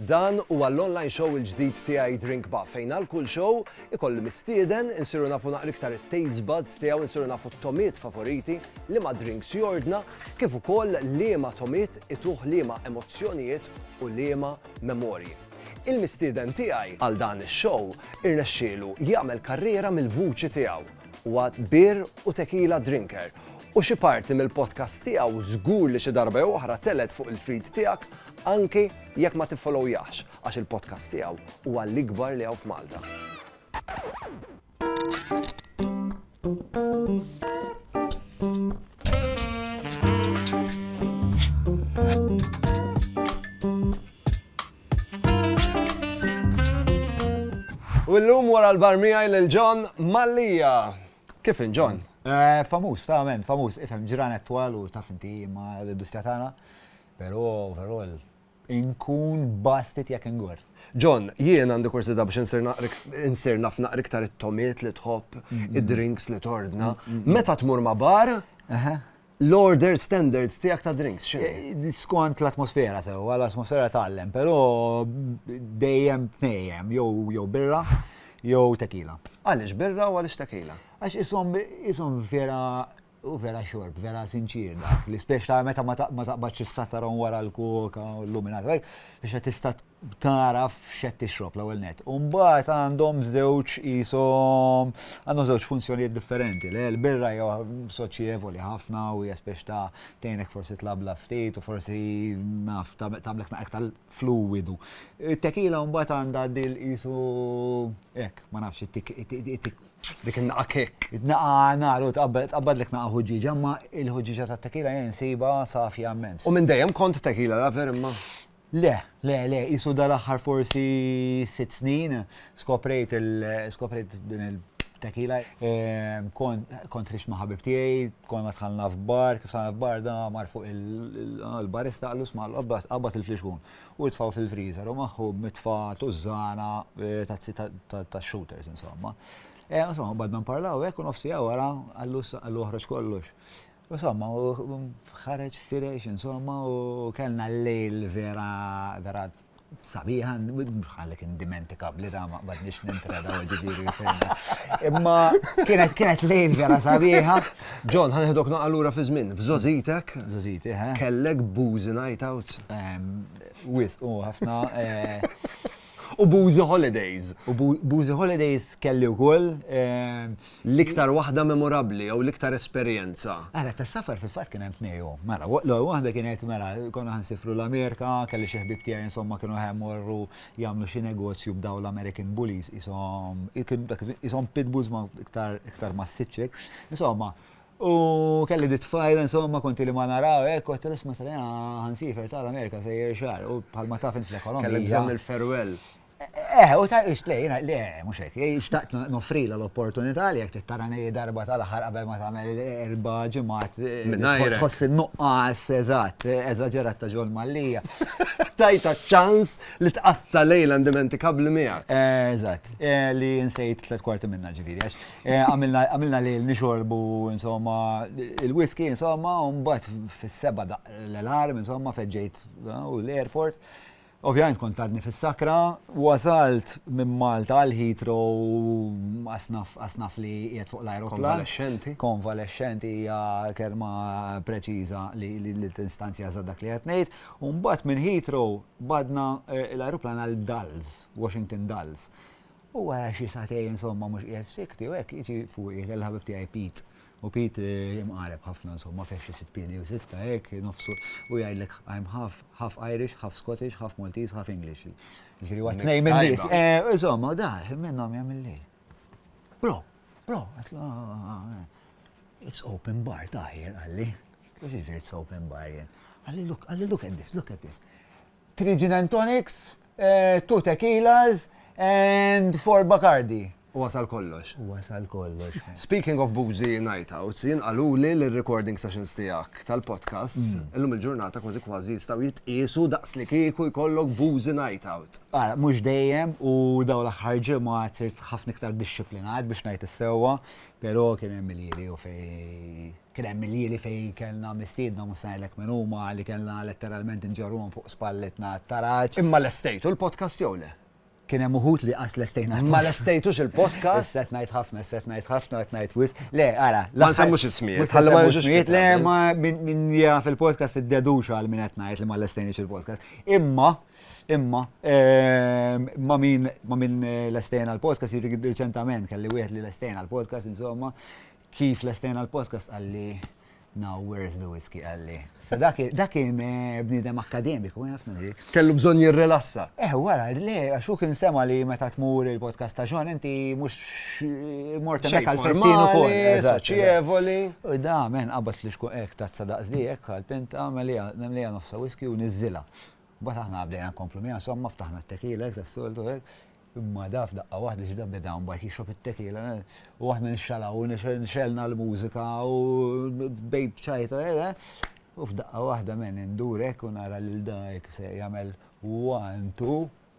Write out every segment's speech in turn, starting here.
Dan huwa l-online show il-ġdid tiegħi Drink Ba fejn għal kull show ikolli mistieden insiru nafu naqra iktar it-taste buds tiegħu insiru nafu t-tomiet favoriti li ma drinks jordna kif ukoll liema tomiet ituh liema emozzjonijiet u liema Memorji. Il-mistieden tiegħi għal dan ix-show irnexxielu jagħmel karriera mill-vuċi tiegħu. Huwa beer u tequila drinker u xi parti mill-podcast tiegħu żgur li xi darba jew oħra telgħet fuq il-feed tiegħek anki jekk ma tiffollowyahx għax il-podcast tiegħu huwa l-ikbar li hawn f'Malta. U l-lum wara l-bar miħaj l-ġon Mallija. Kif in ġon? Eh, famus, ta' men, famus, ifem ġranet twal u taf inti ma l-industrija tagħna. Però overall Inkun bastit jekk ingorr. John, Jien għandi kurżità biex insir naf naqra iktar it-togħmiet li tħobb, id-drinks li tordna. Meta tmur ma' bar, l-order standard tiegħek ta' drinks x'inhi? Skont l-atmosfera sewwa, l-atmosfera tgħallem, però dejjem tnejjem, jew birra jew tequila. Għaliex birra u għaliex tequila? Għax qishom vera Hu vera xorb, vera sinċier dak, li spiex ta' meta ma taqbadx is-sataron wara l-koka u l-luminat, biex qed tista' taraf x'qed tixrob l-ewwel net. U mbagħad għandhom żewġ qishom għandhom żewġ funzjonijiet differenti. Le l-birra hija soċjevoli ħafna u hija spiex ta' tgħinek forsi tlabla ftit u forsi naf tagħmlek naqgħek tal-fluwidu. It-tekila mbagħad għandha dil qisu hekk, ma nafx, Dik in-naqa' kikk. Naqa' għanara u tqabbadlek naqa' ħuġġieġa imma l-ħuġġieġa tat-tequila jien insibha safja immens. U minn dejjem kont tequila lover imma? Le, le, le, qisu dal-aħħar forsi sitt snin skoprejt din il-tequila. Kont ħriġt ma' ħabib tiegħi, konna dħalna f'bar, kif dħalna f'bar da mar fuq il-barista qallu 'sma' qabbad il-flixkun. u jitfgħu fil-freezer u magħhom mitfa' tużżana eh, tazzi tax-shooters insomma. Eh, insomma, bad ma nparlaw hekk u nofs siegħa wara għallu oħroġ kollox. Insomma, ħareġ firex, insomma, u kellna l-lejl vera, vera sabiħa, bħal kien dimentikabli ta' ma badnix nintreda u ġibiri Imma kienet kienet lejl vera sabiħa, John, ħa nieħdok noqgħa lura fi żmien. F'żogħżitek. Żogħżiti, ħa. Kellek bużi night outs. Wis, u ħafna. U bużi holidays. U bużi holidays kelli wkoll. L-iktar waħda memorabbli jew l-iktar esperjenza. Ara, ta' safar fil-fatt kien hemm tnejhom. Mela, l-ewwel waħda kienet mela konna ħansifru l-Amerika, kelli xi ħbib tiegħi insomma kienu ħemmorru jagħmlu xi negozju b'dawn l-American Bullies qishom qishom pit bulls ma iktar iktar massiċċi hekk. Insomma, u kelli di tfajla insomma konti li ma naraw hekk kont tal isma' tal ħansifer tal-Amerika sejjer xar u bħalma taf int l-ekonomija. Kellek bżonn il-farewell. Eh, u ta' ix lej, le, mhux hekk, xtaqt nofrila l-opportunità li jekk tara nej darba tal-aħħar qabel ma tagħmel erba' ġimgħat. Tħoss in-nuqqas eżatt, eżaġerat ta' ġol Mallia. Tajta ċans Li tqatta lejla indimentikabbli miegħek. Eh, eżatt, eh, li nsejt tliet kwarti minna ġifieri għax eh, għamilna lejl nixorbu insomma il-whisky insomma u mbagħad fis-seba' l-alarm insomma feġġejt u l-airport. Ovvjament kont għadni fis-sakra, wasalt minn Malta għal Heathrow asnaf li qiegħed fuq l-aeroplan. Konvalescenti. Konvalescenti hija kelma preċiża li tinstanzja dak li qed ngħid. U mbagħad minn Heathrow badna l-ajruplan għal Dulles, Washington Dulles. U wara xi sagħtejn insomma mhux qiegħed sikti u hekk jiġi fuqi kelli ħabib tiegħi Pete. U Pete imqareb ħafna insomma fih xi sitt piedi jew sitta hekk nofsu u jgħidlek I'm half half Irish, half Scottish, half Maltese, half English. Jiġifieri huwa tnejn minn nies. Insomma, u dak minnhom jagħmilli. Bro, bro, għatlu, it's open bar taħir, għalli. Kif jiġri it's open bar jen? Għalli, look, għalli, look at this, look at this. Three gin and tonics, eh, two tequilas, and four Bacardi. U wasal kollox. U wasal kollox. Speaking of boozy night outs, jien għalu li l-recording sessions tijak tal-podcast, mm. illum il-ġurnata kważi kważi jistaw jitqisu daqs li kieku jkollok boozy night out. Ara, mhux dejjem u dawn l-aħħar ġimgħat sirt ħafna iktar dixxiplinat biex ngħid is-sewwa, però kien hemm il-jiri u fejn kien hemm il-jiri fejn kellna mistiedna mhux se ngħidlek min huma li kellna letteralment inġorruhom fuq spallitna għat-taraġ. Imma lestejtu l-podcast jew le? Kien hemm uħud li qas lestejna l-podcast. Ma lestejtux il-podcast? Issa qed ngħid ħafna, issa qed ngħid ħafna, qed ngħid wisq. Le, ara. Ma nsemmux ismijiet. Ħalli ma jiġux ismijiet. Le, ma min jaf il-podcast iddeduxa għal min qed ngħid li ma lestejniex il-podcast. Imma Imma, ma min, ma min l-estejna l-podcast, jiri reċentament, kelli wieħed li l-estejna l-podcast, insomma, kif l-estejna l-podcast għalli, now where's the whiskey għalli. So dak kien eh, bnidem akademiku, għafna eh, li. Kellu bżon jirrelassa. Eh, wara, le, għaxu kien sema li meta tmur il-podcast ta' ġon, inti mux eh, morta mek għal-festinu kol. Soċievoli. U da, men, għabat li xku ek ta' tsadaqs li ek għal-pinta, għamel li għan nofsa whiskey u nizzila. Mbagħad aħna bdejna nkomplu miegħu, insomma ftaħna t-tequila hekk tas-soltu hekk, imma da f'daqqa waħda x'da beda mbagħad jixrob it-tequila u aħna nixxalaw u nixegħelna l-mużika u bdejt b'ċajta u f'daqqa waħda m'għen indur hekk u nara lil da hekk se jagħmel one two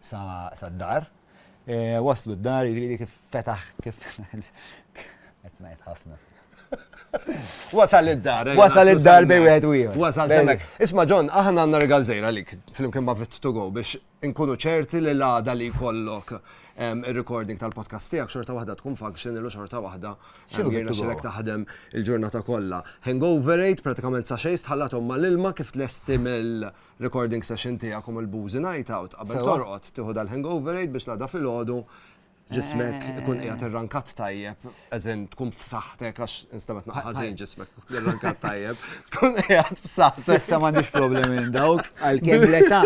sa sad-dar. Waslu d-dar, jiġifieri kif fetaħ kif qed ngħid ħafna. Wasal id-dar. Eh, Wasal id-dar bej wieħed u ieħor. Wasal semmek. Isma' John, aħna għandna regal żejra lik flimkien ma' fit to go biex inkunu ċerti li l-għada li jkollok il-recording tal-podcast tiegħek xorta waħda tkun function ilu xorta waħda jirna xilek taħdem il-ġurnata kollha. Hangover 8 pratikament sa xejn tħallathom mal-ilma kif tlesti mill- recording session tiegħek u mill-boozy night out qabel Sewwa. torqod tieħu dal-hangover aid biex l-għada filgħodu ġismek Eh. ikun qiegħed irrankat tajjeb, as in tkun f'saħħtek għax instamet naqqa' ħażin ġismek irrankat tajjeb, tkun qiegħed f'saħħtek. Sissa m'għandix problemi minn dawk, għalkemm l-età,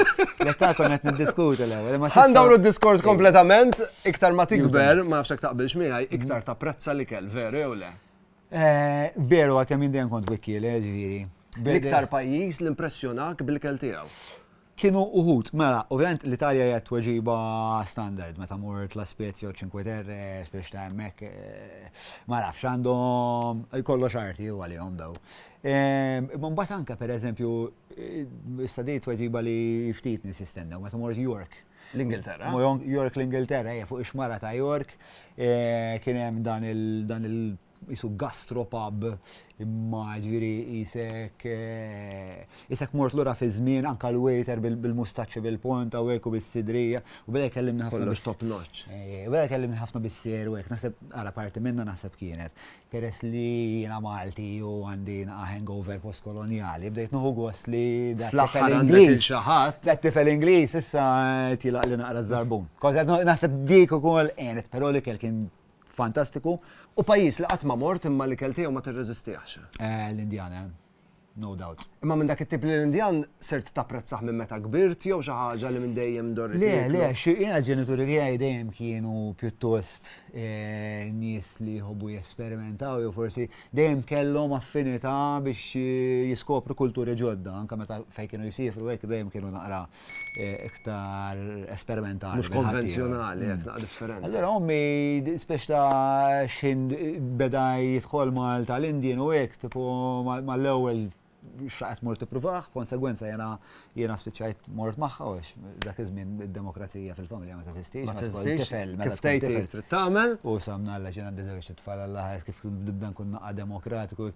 l-età konna qed niddiskutu l-ewwel. imma sissa- Għandawru d-diskors kompletament, iktar ma tikber, ma nafx hekk taqbilx miegħi, iktar tapprezza li kell, veru jew le? Veru għad kemm jien dejjem kont wikkiel, eh, ġifieri. L-iktar pajjiż li impressjonak bil-ikel tiegħu? Kienu uħud, mela, ovvjament l-Italja hija t-tweġiba standard meta mort La Spezia u Cinque Terre, biex ta' hemmhekk ma nafx għandhom kollox arti hu għalihom daw. Imma mbagħad anke pereżempju, issa di tweġiba li ftit nies jistennew, meta mort York, L-Ingilterra. York l-Ingilterra, fuq ix-xmara ta' York, eh, kien hemm dan il- jisu gastropub imma ġviri jisek jisek eh, mort l-ura fi żmien anka l-waiter bil-mustaċċi bil-ponta u għeku bil-sidrija u bada jkellimni ħafna. Kollox top notch. Eh, u bada jkellimni ħafna bis-seru għek, naħseb għala parti minna naħseb kienet. Peress li jiena Malti u għandi naqa' hangover post-kolonjali, bdejt nieħu gost li dat-tifel Ingliż, dat-tifel Ingliż issa qed jilgħaqli naqra ż-żarbun. Kont qed naħseb dik ukoll għenet, però l-ikel kien fantastiku. U pajjiż li qatt ma mort imma l-ikel tiegħu ma tirreżistihx? L-Indjana. No doubt. Imma minn dak it-tip li l-Indjan sirt tapprezzah minn meta kbirt jew xi ħaġa li minn dejjem dorrit? Le, le, jiena l-ġenituri tiegħi dejjem kienu pjuttost eh, nies li jħobbu jesperimentaw jew forsi dejjem kellhom affinità biex eh, jiskopru kulturi ġodda, anke meta fejn kienu jisifru hekk dejjem kienu naqra eh, iktar esperimentali. Mux konvenzjonali, għet naqra differenti. Allora, ommi, spiex ta' xin beda jitħol mal tal-Indien u għek, tipo mal-ewel xaqet mort t-pruvaħ, konsegwenza jena jena spiċajt mort maħħa, dak iż-żmien id-demokrazija fil-familja Ma teżistix, ma teżistix. Kif tgħid trid tagħmel. U samna għalla xi għandi żewġ tfal għalla ħares kif nibda nkun naqqa demokratiku.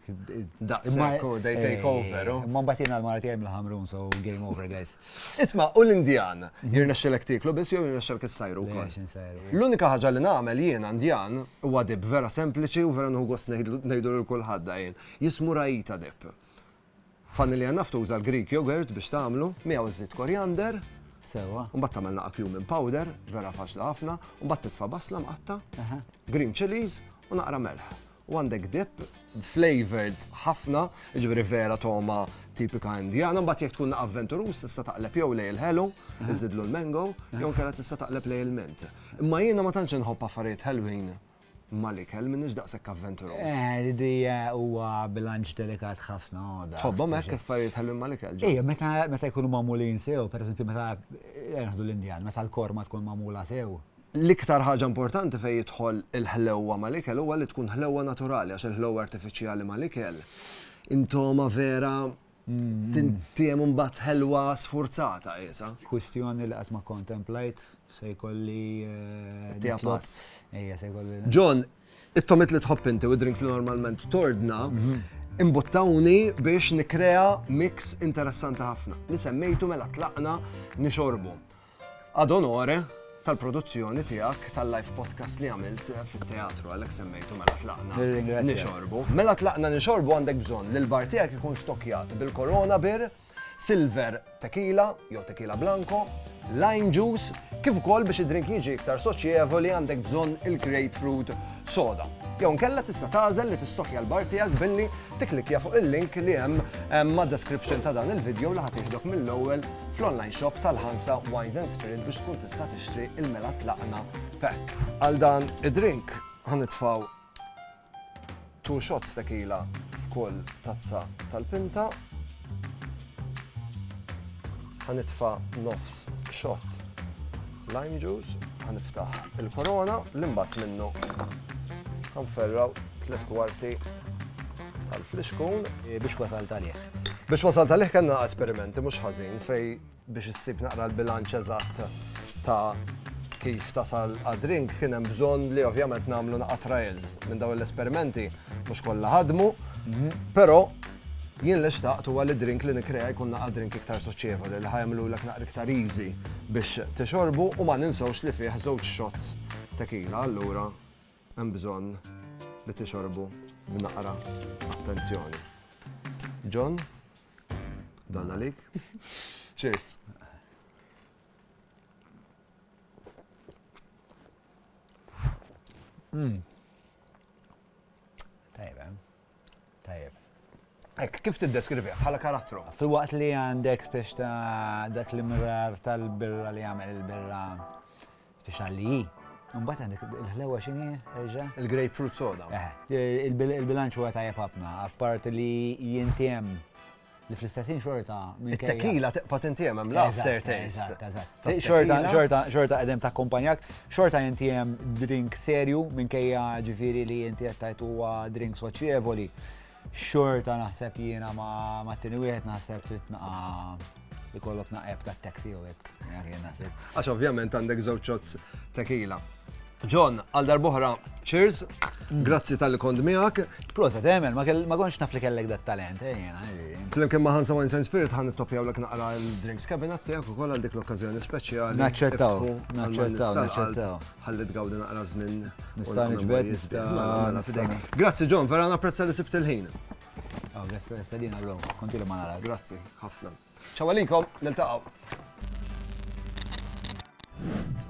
Daqshekk u they take over. Ma mbagħad jiena l-Malti hemm l-ħamrun so game over guys. Isma' u l-Indjan jirnexxilek tieklu biss jew jirnexxilek issajru wkoll. L-unika ħaġa li nagħmel jiena Indjan huwa dib vera sempliċi u vera nħu gost ngħidu lil kulħadd jien. Jismu Raita dib. Vanilja naf tuża l-Greek yogurt biex tagħmlu, miegħu żżid korjander. Sewwa. U mbagħad tagħmel naqa' cumin powder, vera faċli ħafna, u mbagħad titfa' basla mqatta', green chillies u naqra melħ. U għandek dip flavored ħafna, jiġifieri vera togħma tipika Indjana, mbagħad jekk tkun avventuruż tista' taqleb jew lejn il-ħelu, iżidlu l-mango, jew inkella tista' taqleb lejn il-mint. Imma jiena ma tantx inħobb affarijiet ħelwin mal-ikel, m'iniex daqshekk avventuroż. Eh, di huwa bilanċ delikat ħafna għoda. Tħobbhom hekk affarijiet ħelwin mal-ikel? Ejja, meta jkunu magħmulin sew, pereżempju meta naħdu l-Indjan, meta l-korma tkun magħmula sew. L-iktar ħaġa importanti fejn jidħol il-ħlewwa mal-ikel huwa li tkun ħlewwa naturali għax il-ħlewwa artifiċjali mal-ikel inthoma vera Tintiem mbagħad ħelwa sfurzata qiesa. Kwistjoni li qatt ma kontemplajt se jkolli eh, Tiha nitlob- pass. Ejja, se jkolli. John, it-tomit li tħobb inti u d-drinks li normalment tordna, imbuttawni biex nikrea mix interessanti ħafna. Li semmejtu mela tlaqna nixorbu. Ad onore tal-produzzjoni tiegħek tal-live podcast li għamilt fit-teatru għalhekk semmejtu mela tlaqna. Nirringrazzjak. Nixorbu. Mela tlaqna nixorbu għandek bżonn li l-bar tiegħek ikun stokkjat bil-Corona Beer, Silver Tequila jew Tequila Blanco, Lime Juice, kif ukoll biex id-drink jiġi iktar soċjevoli għandek bżonn il-Grapefruit soda. Jew inkella tista' tagħżel li tistokkja l-bar tiegħek billi tikklikkja fuq il-link li hemm mad-description ta' dan il-video li ħa tieħdok mill-ewwel fl-online shop tal-Ħansa Wines and Spirit biex tkun tista' tixtri il-mela tlaqna pack. Għal dan id-drink ħa nitfgħu two shots tequila f'kull tazza tal-pinta. Ħanitfa' nofs xott lime juice, ħaniftaħ il-korona li mbagħad minnu ħanferraw tliet kwarti tal-flixkun. Biex wasal talih. Biex wasal talih kellna esperimenti mhux ħażin fej Biex issib naqra l-bilanċ eżatt ta' kif tasal għad-drink kien hemm bżonn li ovvjament nagħmlu naqgħa trials minn dawn l-esperimenti mhux kollha ħadmu, però jien li xtaqt huwa li drink li nikrea jkun naqgħa drink iktar soċjevoli li ħajmlu lek naqra iktar easy biex tixorbu u ma ninsewx li fih żewġ shots tequila allura Hemm bżonn li tixorbu b'naqra attenzjoni. John, dan għalik. Cheers. Hmm. Tajba. Tajjeb. Hekk, kif tiddeskrivih bħala karattru? Filwaqt li għandek biex ta' dak l-imrar tal-birra li jagħmel il-birra biex għalli. Mbagħad għandek il-ħlewa x'inhi erġa'? Il-grapefruit soda. Il-bilanċ huwa tajjeb ħafna, apparti li jintiem li fl-istess ħin xorta minn tequila tibqa' tintiem hemm l-after taste. Xorta xorta xorta qegħdem ta' kumpanjak, xorta inti hemm drink serju minkejja ġifieri li inti qed tajt huwa drink soċjevoli. Xorta naħseb jiena ma' tieni wieħed naħseb trid naqa' ikollok naqeb ta' taxi u hekk. Għax ovvjament għandek żewġ shots tequila. John, għal darbohra, cheers. Grazzi tal-li kond miegħek. Proset, Emel, eh, ma konx naf li kellek dat talent, eh, jena. Eh, Flimkien ma' Hansa Wines and Spirit ħan nittopjaw l naqra l-drinks cabinet tiegħek ukoll għal dik l-okkażjoni speċjali. Naċċettaw, naċċettaw, naċċettaw. Ħalli tgawdi naqra żmien. Nista' niġbed, nista' mela, mela, Grazzi John, vera napprezza li sibt il-ħin. Għaw, oh, nista' din għallum, kontilu ma nara. Grazzi, ħafna. Ciao għalikom, niltaqgħu.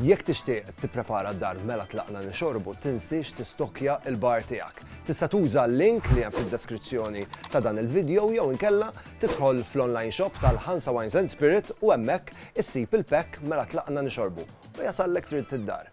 Jekk tixtieq tipprepara d-dar mela tlaqna nixorbu tinsiex tistokkja l-bar tiegħek. Tista' tuża l-link li hemm fid-deskrizzjoni ta' dan il-video jew inkella tidħol fl-online shop tal-Hansa Wines and Spirit u hemmhekk issib il-pack mela tlaqna nixorbu u jasallek trid id-dar.